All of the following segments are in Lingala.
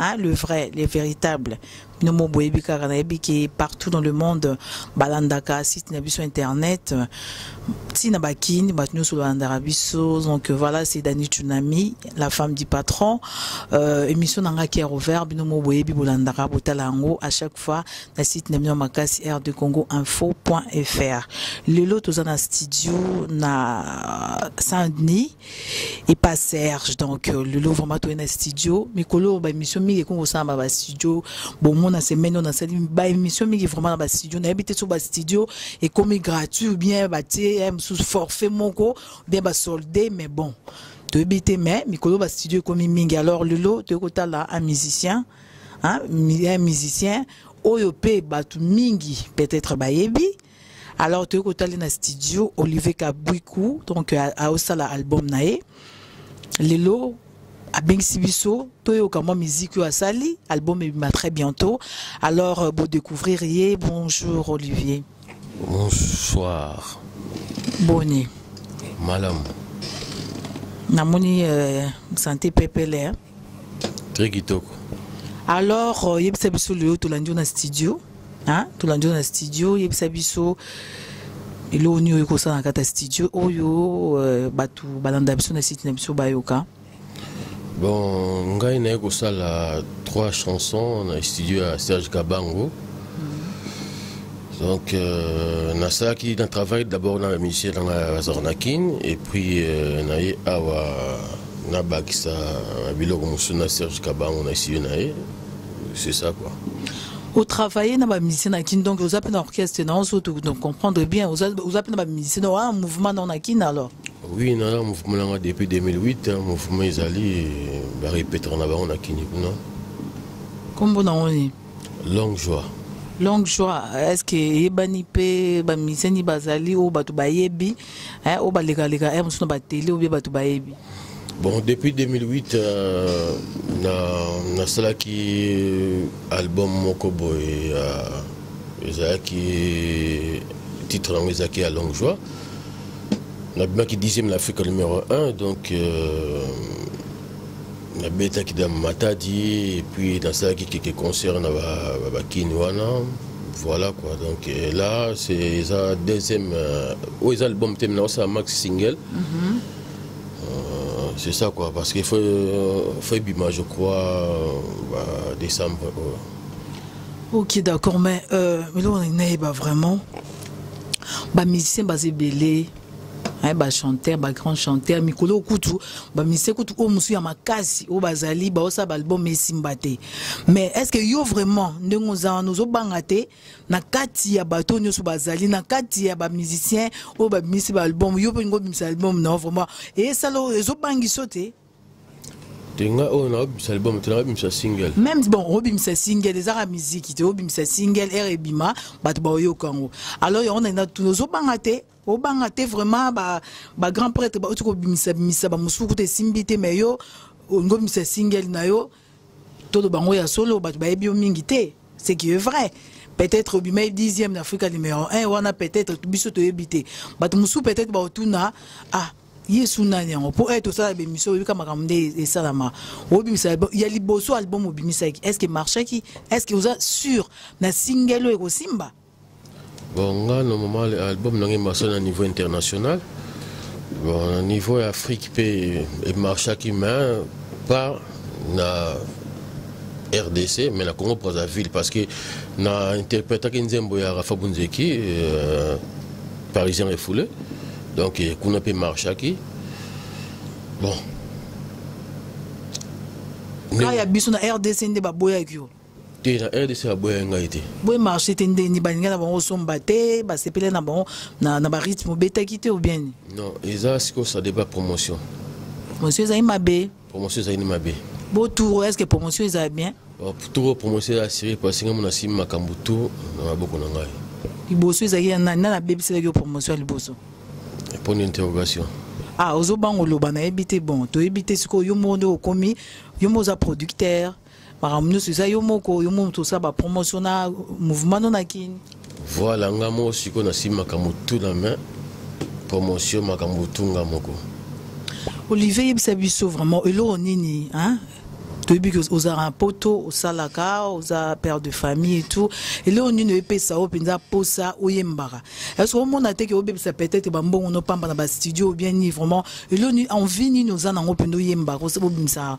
Hein, le vrai, le véritable. Nous boyebi kaka nayebi ke partout dans le monde balandaka site na biso internet ti na bakini bato nyonso balandaka biso donc voilà c'est Dani Tsunami la femme du patron euh, émission na ngai cœur ouvert bino mo boyebi bolandaka botala yango à chaque fois na site na bino makasi rdcongoinfo.fr lelo toza na studio na Saint-Denis et pas Serge donc euh, Lolo vraiment toi na studio mikolo ba émission mingi ko samba ba studio bon mon na semaine on a sali ba émission mingi vraiment na ba studio na habité sur ba studio et comme gratuit ou bien ba TM sous forfait moko bien ba soldé mais bon toyebi te mais mikolo ba studio ekomi mingi alors Lolo toyei kotala un musicien hein, un musicien oyo pe batu mingi peut-être bayebi alors toyei kotali na studio olivier kabwiku donc aosala album na ye lelo abengisi biso toyoka mwa miziki oyo asali album ebima très bientôt alors euh, bodécouvrir ye bonjour olivier bonsoir boni malamu namoni euh, sante pepele hein? très kitoko alors euh, yebisa biso lelo tolandi yo na studio hein? tolandi yo na studio yebisa biso eloko nini oyo ekosala na kati ya studio oyo euh, bato balanda biso na site na biso bayoka bon ngai naye kosala trois chansons na studio ya serge kabango donc euh, nasalaki na travail d'abord na musicien nanga azalaka na kin et puis euh, naye awa ah, nabakisa biloko mosusu na serge kabango na studio na ye c'est ça quoi otravaille na bamusicien na kin donc oza mpe na orchestre na oso comprendre bien oza mpe na bamusicien donc aa mouvement nao na kin alors oui naza mouvement nanga depuis 2008 mouvement ezali barepetaka na bango na kini kuna nkombo nango nini longue joie longue joie est ce que eyebani mpe bamiseni bazali oyo bato bayebi eh, oyo balekaleka eh, mosusu na batele obie bato bayebi bon depuis 2008 euh, nasalaki na album moko boye euh, ezalaki titre yango ezalaki ya longue joie nabimaki 10e na afrika numero 1 donc euh, nabetaki da matadi epuis nasalaki keke concert na bakini ba, ba wana voilà quoi donc euh, là c'est eza deuxième euh, oyo eza album te mina osala max single mm -hmm. euh, c'est ça quoi parce qu'il faut, euh, faut ebima je crois euh, bah, décembre euh. ok d'accord mais euh, eloko nayeba vraiment bamusicien baza ebele ba hein, ba chanteur ba grand chanteur mikolo kutu ba mise kutu o musu ya makasi o bazali ba osa ba album esimba te mais est-ce que yo vraiment ndenge oza wana ozo banga te na kati ya bato nyonso bazali na kati ya ba musiciens o ba mise ba album yo pe ngo bimisa album non vraiment et ça lo ezo bangi sote te nga oyo nakobimisa liboma te nakobimisa single même bon obimisa single ezaka miziki te obimisa single ere ebima bato baoyoka yango alors yango naina tuna ozobanga te obanga te vraiment bagrand prêtre bauti kobimisa bimisa bamosusu kuta esimbi te mais yo olingi obimisa single na yo toloba yango ya solo bato bayebi yo mingi te ce qui est vrai peut-être obimai dixième na afrika numéro 1 wana peut-être biso toyebi te bato mosusu peut-être baotuna ah yesu nani yango mpo ete osala bemission oyebika makambo nde esalama obimisa ya liboso album obimisaki est ce que marchaki est ce que oza sur na singelo ekosimba Bon, nga normalement album na ngai marche na niveau international. Bon, na niveau ya Afrique pe e marchaki mais pas na RDC mais na Congo Brazzaville parce que na interprétaki nzembo ya Rafa Bunzeki euh, parisien refoulé. Donc eh, kuna pe marchaki. Bon, Ka ya biso na RDC nde baboyaki yo. te na rdc baboyaki ngai te boye marché te nde ni baninga na bango osomba te basepele na bango na barythme obetaki te obieni non eza sikoyo ça débat promotion promotion ezali mabe promotion ezali ni mabe bo tour est ce que promotion eza bien oh, tour promotion eza assuré parce ngai mona simi makambo tour na maboko na ngai liboso ezalaki ya nani nani abebiselaki yo promotion ya liboso point d'interrogation ah ozobanga oloba nayebi te bon toyebi te sikoyo yo moko nde okomi yo moko oza producteur makambo nyonso eza yo moko yo moko tosala bapromotion na mouvement no na kini voilà nga moko sikoyo nasimi makambo tu na main promotion makambo tu nga moko olivier yebisa biso vraiment eloko nini hein? toyebi ke ozalaka poto osalaka oza père de famille et tout eloko nini oyepesa yo mpenza mposa oyembaka ece omona te ke obebisa peut-être bambongo nopamba na bastudio ou bien ni vraiment eloko nini envie nini oza nango mpenza oyembaka obimisaka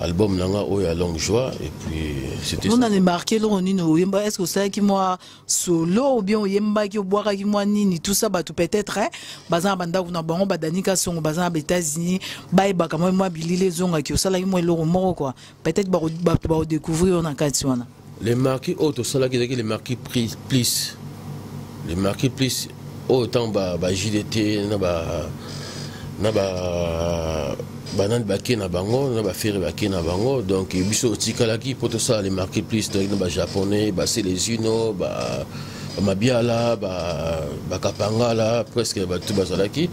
album na nga oyo ya longue joie et puis c'était on a marqué eloko nini oyemba est ce que osalaki mwa solo ou bien oyembaki obwakaki mwa nini tout ça bato peut-être hein, baza na bandako na bango badani kasongo baza na baétats-unis bayebaka mwa mwa bilili ezongaki osalaki mwa eloko moko quoi peut-être bato bakodécouvrir yo na kati wana le marquis oyo tosalaki ezalaki le marquis pris plus le marquis plus oyo ntango bajdt na ba na ba banani bake na bango na bafere bake na bango donc biso otikalaki mpo tosala le marquis plus toyaki na bajaponais baselezino ba bamabiala bakapangala presque bato bazalaki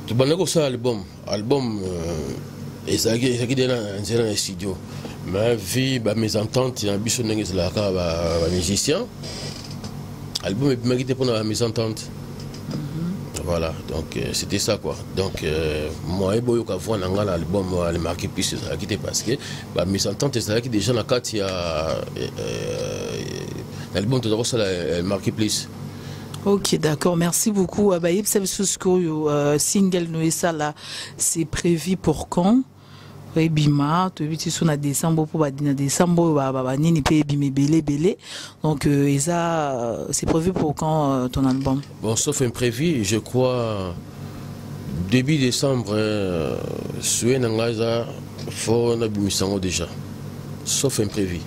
tobandaki kosala album album euh, ezalaki ezalaki de na nzela na studio mais vie bamésentente na biso ndenge ezalaka kaka bamusicien album ebimaki te mpona bamésentente mhm. voilà donc euh, c'était ça quoi donc euh, moyen boyoka voix na ngai na album le marqué plus ezalaki te parce que bamésentente ezalaki déjà na kati ya na album toza kosala marqué plus Ok, d'accord. Merci beaucoup. Ah, bah, euh, single Noessa, là, c'est prévu pour quand ebima toyebi ti so na décembre mpo na décembre banini mpe ebima ebele ebele donc euh, eza euh, c'est prévu pour quand euh, ton album bon sauf imprévu je crois début décembre euh, souhait na ngai eza fo nabimisa yango déjà sauf imprévu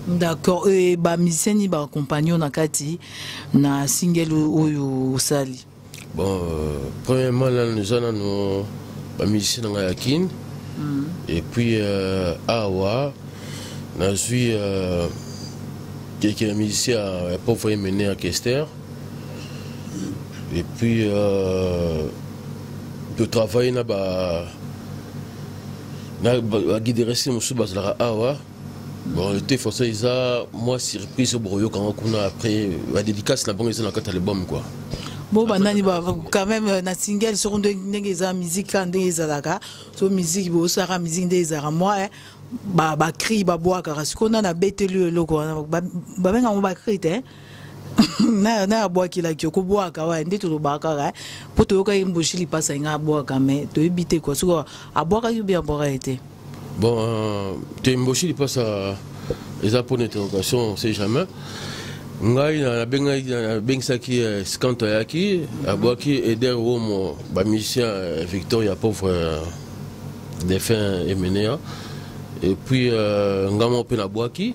D'accord. Et ba musicien ni ba compagnon na kati na single oyo osali. Bon, euh, premièrement là nous allons nous ba musicien na ya Kin. Mm. Et puis euh, awa na suis euh, quelques musiciens euh, pour faire mener à Kester. Et puis euh, de travailler na ba na ba guider rester musuba zala awa. bon te façon eza mwa surprise bokoyoka yango kuna après badédicace na bango eza na kati ya album quoi bo bandani quand même euh, na single soko ndenge eza musique kaka ndenge ezalaka so musique bosalaka musique nde ezalaka mwa eh, bacri babwakaka sikoyo nani abeteli yo eloko wana babenga yango bacri te eh. na na abwakelaki yo kobwaka waye nde tolobaka kaka eh. mpo toyokaki mboshi lipasa inga abwaka me toyebi te kua soki abwakaki obi abwakaki te bon euh, te mboshi lipasa eza mpo na interrogation on sait jamais ngai nabengisaki euh, scanto ayaki abwaki eder womo bamusicien euh, victor ya pauvre défunt emenea et puis ngai moko mpe nabwaki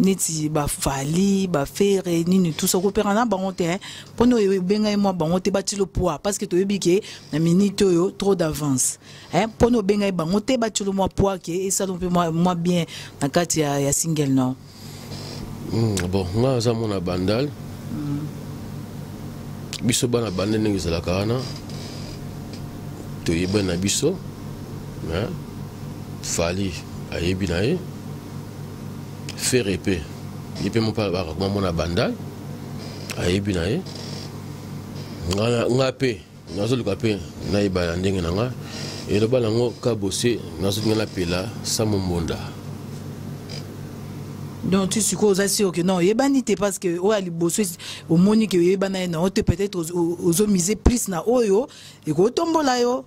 neti bafali bafere nini tusa kopera na bango te hein. mpo na obenga ye mwa bango te bati lopoa parce que toyebi ke na minute oyo trop d'avance hein. mpo na obenga ye bango te bati lo mwa poa ke esala mpe mwa bien na kati ya, ya single non mm, bon nga aza mwana bandal mm. biso bana bande ndenge ezalaka wana toyebani na biso fali ayebi na ye ferre epe ye mpe mopaya bakakoma mona bandal ayebi na ye nga mpe nazoluka mpe nayeba ya ndenge na nga eloba nango kabose nazolinga napela samo mbonda donc tu sikoyo oza sur que non oyebani te parce que oyo ya liboso omoni ke oyebana ye na yo te peut-être ozomise plus na oyo ekotombola yo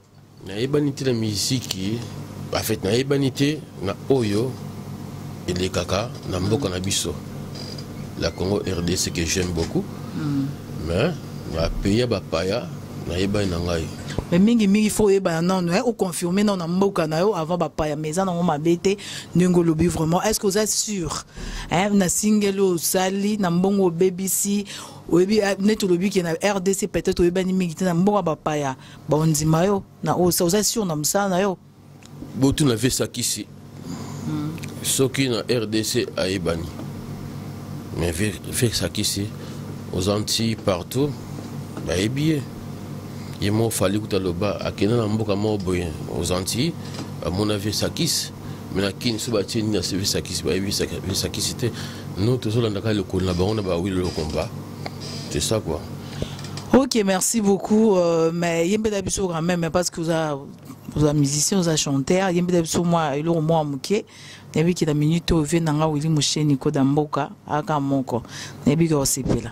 nayebani te na miziki afet nayebani te na oyo elekaka na mboka na biso la congo rdc que j'aime beaucoup mm. mais na pays ya bapaya nayebani na ngai mais mingi mingi faut oyebana nano eh, oconfirme nano na mboka na yo avant bapaya mais eza nango mabe te ndenge olobi vraiment est ce que oza sûr eh, na singeli osali na mbongo obebisi oyebi eh, neti olobi ke na rdc peut-être oyebani mingi te na mboka bapaya baondima yo na oyo sa oza sur na mosala na yo botuna vesakisi hmm. soki na rdc ayebani mais vesakisi oza nti partout bayebi ye ye moko fali kuta loba akenda na mboka moko boye oza nti bamona vesakisi me na kini so batie nini na vesakisi bayebi vesakisi te no tozolandaka lokolo na bango na bawilo lokomba c'est ça quoi Ok, merci beaucoup. Euh, mais yembe d'habitude quand même, parce que vous avez vous avez musicien, vous avez chanteur. Yembe d'habitude moi, il est moi muke. Nabi ki la minute au vient nanga wili mouche niko damboka aka moko. Nabi ko sepela.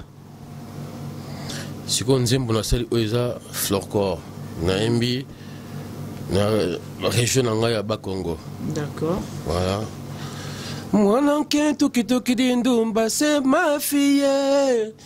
Siko nzembo na sali oza florcor. Na yembi na région nanga ya Bakongo. D'accord. Voilà. Mwana nkentu kitoki dindumba se ma fille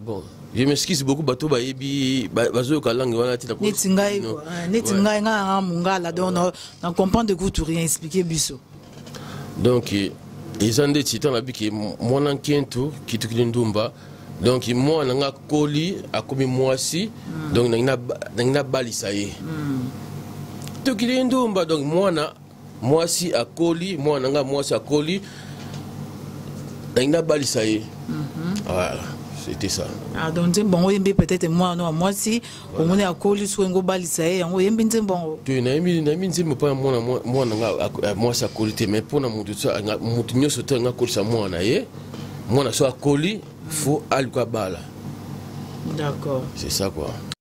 Bon, je m'excuse beaucoup bato bayebi bazoyoka langue wana ti neti ngai ah, neti ngai ngai aa mongala donc na comprendre kutu rien expliquer biso donc eh, eza ndeti ntango nabiki mwana nkentu kitukili ndumba donc mwana na ngai akoli akomi mwasi hmm. donc nangi nabalisa ye hmm. tukili ndumba donc mwana mwasi akoli mwana na ngai mwasi akoli nangi nabalisa ye mhm. voilà c'était ça ah, donc nzembo yango oyembi peut-être mwana wa mwasi omoni akoli soki yango obalisa ye yango oyembi nzembo yango te nayembi nayembi nzembo mpo na mwana mwana nga mwasi akoli te mais mpo na moto moto nyonso te nga akolisa mwana na ye mwana so akoli faut aluka bala d'accord c'est ça quoi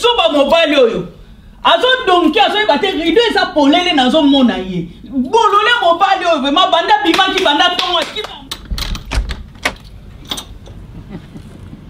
zoba mobali oyo azodonki azoyeba te rido eza polele nazomona ye bolole mobali oyo vrema banda bimaki banda ntongo akima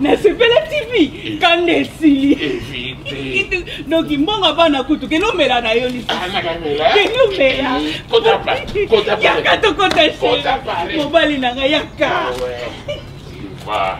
nasepela tv kanda esili donc mbongo bana kutu kende omela na yo lisuskende ah, omeleyaka tokota mobali na ngai yaka ah,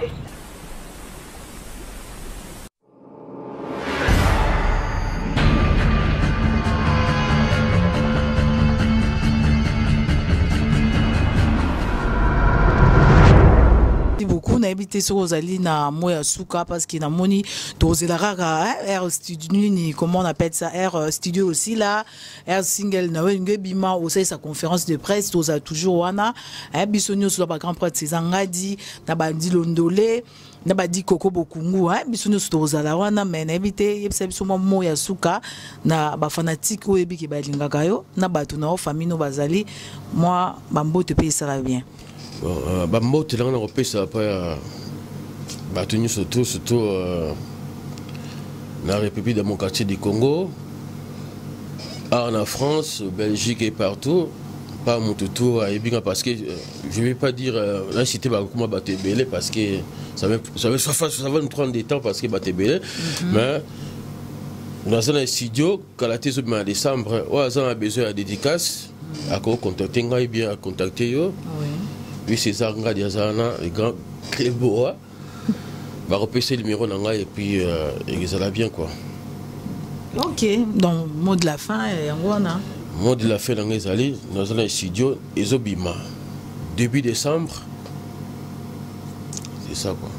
yango nayebi te soki ozali na mo ya suka parce que namoni tozela kaka air studio nini comment on appelle ça air euh, studio aussi là air single na olingi ebima osalisa conférence de presse tozala toujours wana eh, biso nyonso na bagrand prêtre césar ngadi na bandilondole na badi koko bokungu hein? biso nyonso tokozala wana me nayebi te yebisa biso mwa mo ya suka na bafanatike oyo yebi ke balingaka yo na bato na yo famille no bazali mwa bambote mpe esala bien euh, bambote nanga na kopesa mpa ya bato nyonso to surtout euh, na république démocratique du congo awa na france belgique et partout mpa moto to ayebi nga parce que euh, je vais pas dire euh, na cité bakokoma bato ebele parce que ça va, ça va, ça va nous prendre des temps parce que bato ebele mhm. mais naza na studio kala te ezobima na décembre oyo aza na besoin ya dédicace mhm. akocontacte ngai bien akontacte yo oui césar ngadi aza wana le grand cleboa bakopesa numero na ngai epuis euh, ezala bien quoi ok donc mot de la fin eh, yango wana mot de la fin na ngai ezali naza na studio ezobima début décembre c'est ça quoi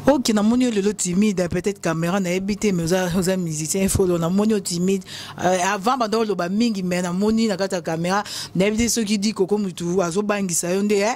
ok namoni yo lelo timide peut-être caméra nayebi te mais oza, oza musicien efolo namoni yo timide euh, avant banda oloba mingi mais namoni na kati ya caméra nayebi te soki di koko mutu azobangisa yo nde eh?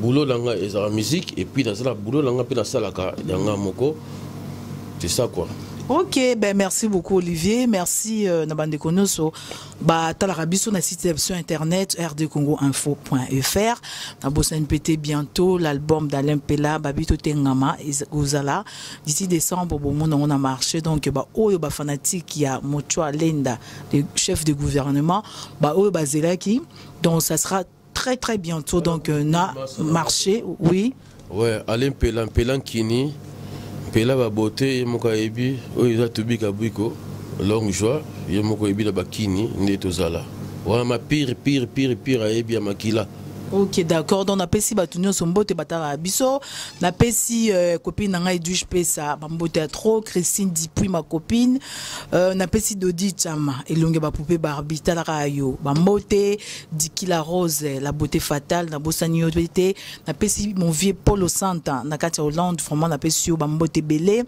boulot na nga ezala musique et puis nazala boulot na nga mpe nasalaka ya nga moko c'est ça quoi ok ben merci beaucoup olivier merci euh, na bandeko nyonso batalaka biso na site sur internet rdcongo info.fr nabosani mpe te bientôt l'album d'alain mpela babi totengama kozala d'ici décembre bomona yango na marché donc baoyo bafanatique ya mochoa lenda le chef de gouvernement baoyo bazelaki donc ça sera très très bientôt donc euh, na marché oui ouais allez mpela mpela nkini mpela babote ye moko ayebi oyo eza tobika bwiko longue joie ye moko ayebi na bakini nde tozala wana ma pire pire pire pire ayebi ya makila ok d'accord donc napesi bato nyonso mbote batalaka biso napesi euh, copine na ngai edwige pesa bambote ya trop christine dipui ma copine euh, napesi dodi chama elongi ya bapupe barbi talaka yo bambote Diki la Rose, la beauté fatale, na bosani yo te, na pesi mon vieux Polo Santa, na kati ya Hollande, vraiment na pesi yo bambote belé.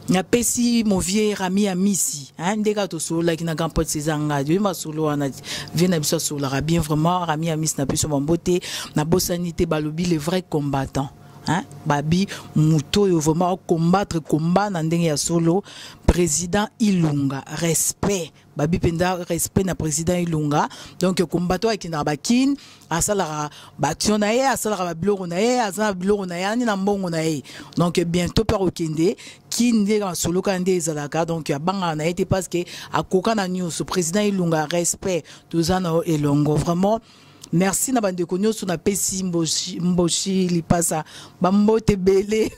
Na pesi mon vieux Rami Amisi, hein, ndeka to solo ki na grand pote César Ngadi, ma solo wana vieux na biso solo bien vraiment Rami Amisi na pesi bambote, na bosani te balobi le vrai combattant. Hein? babi moto oyo vraiment combattre combat na ndenge ya solo président ilunga respect babi mpenza respect na président ilunga donc combattant akendaka bakine asalaka baaction na ye asalaka babiloko na ye aza na biloko na ye ani na mbongo na ye donc bientôt mpe akokende kine nde masolo kaka nde ezalaka donc abangaka na ye te parce que akoka na nyonso président ilunga respect toza na yo elongo vraiment merci na bandeko nyonso napesi mboshi, mboshi lipasa bambote ebele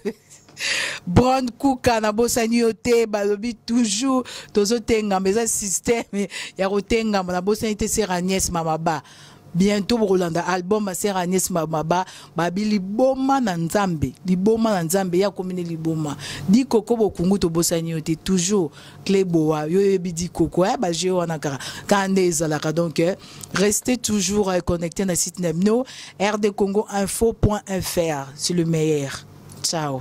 Bron Kuka na bosani yo te balobi toujours tozotengama eza système ya kotengama na bosani te sera Agnès Mamaba bientôt bokolanda album ya sera Agnès Mamaba babi liboma na nzambe liboma na nzambe ya komine liboma dikoko bokungu tobosani yo te toujours cle boa yo yebi di koko eh, ba jeu wana kaka kaka nde ezalaka donc eh, restez toujours eh, connecté na site na bino rdcongo info point fr c'est le meilleur ciao